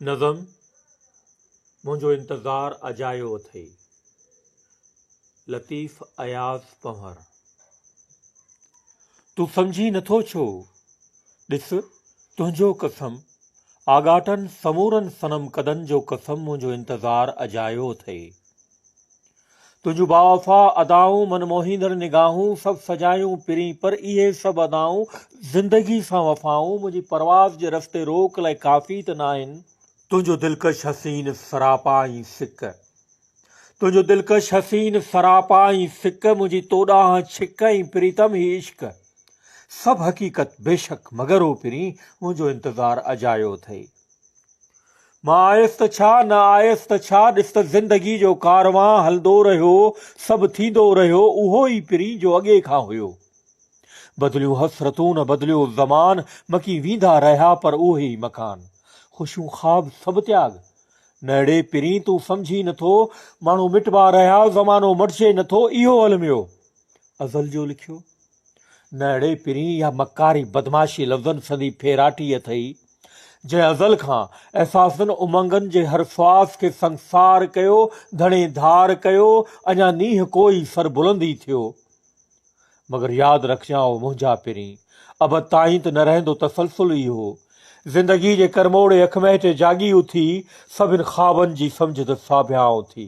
نظم، منهنجو انتظار اجايو اٿئي، لطيف اياز پنهور. تون سمجهين نٿو ڇو؟ ڏس، تنهنجو قسم، آڳاٽن سمورن صنم قدن جو قسم منهنجو انتظار اجايو اٿئي. تنهنجون باوفا ادائون، من موهيندڙ نگاهون، سڀ سجايون پرين، پر اهي سڀ ادائون، زندگي سان وفائون، منهنجي پرواز جي رستي روڪ لاء ڪافي ته ناهن. تنهنجو دلڪش حسين سراپا ۽ سڪ. تنهنجو دلڪش حسين سراپا ۽ سڪ، منهنجي تو ڏانهن ڇڪ ۽ پريتم هي عشق. سڀ حقيقت بيشڪ مگر او پرين، منهنجو انتظار اجايو اٿئي. مان آيس ته ڇا، نه آيس ته ڇا، ڏس ته زندگيء جو ڪاروان هلندو رهيو، سڀ ٿيندو رهيو، اهو ئي پرين جو اڳي کان هيو. بدليون حسرتون، بدليو زمان، مڪي ويندا رهيا پر اهي ئي مڪان، خوشيون خواب سڀ تياڳ. نهڙي پرين تون سمجهين نه ٿو، ماڻهو مٽبا رهيا، زمانو مٽجي نه ٿو، اهو الميو ازل جو لکيو. نه اڙي پرين اها مڪاري بدمعاشي لفظن سندي ڦيراٽي اٿئي، جنهن ازل کان احساسن امنگن جي هر سواس کي سنگسار ڪيو، ڌڻي ڌار ڪيو، اڃا نينهن ڪوئي سربلند ئي ٿيو. مگر ياد رکجان او منهنجا پرين، ابد تائين ته نه رهندو تسلسل اهو. زندگيء جي ڪرموڙي اک مهٽي جاڳي اٿي، سڀن خوابن جي سمجهه ته ساڀيان اٿي.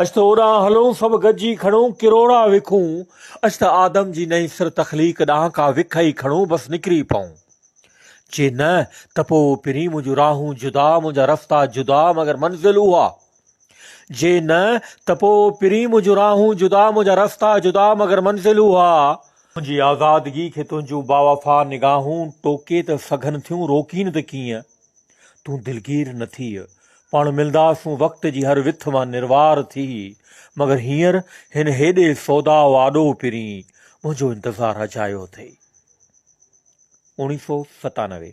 اچ ته اوڏانهن هلون سڀ گڏجي کڻون ڪروڙا وکون اچ ته آدم جي نئين سر تخليق ڏانهن ڪا وک ئي کڻون بس نڪري پئون جي نه ته پوء پرين منهنجون راهون جدا منهنجا رستا جدا مگر منزل اها جي نه ته پوء پرين منهنجون راهون جدا منهنجا رستا جدا مگر منزل اها تنهنجي آزادگي کي تنهنجون باوفا نگاهون ٽوڪي ته سگهن ٿيون روڪين ته ڪيئن. تون دلگير نه ٿيء. پاڻ ملنداسون وقت جي هر وٿ مان نروار ٿي، مگر هينئر هن هيڏي سودا و آڏو پرين منهنجو انتظار اجايو اٿئي. اوڻيهه سؤ ستانوي.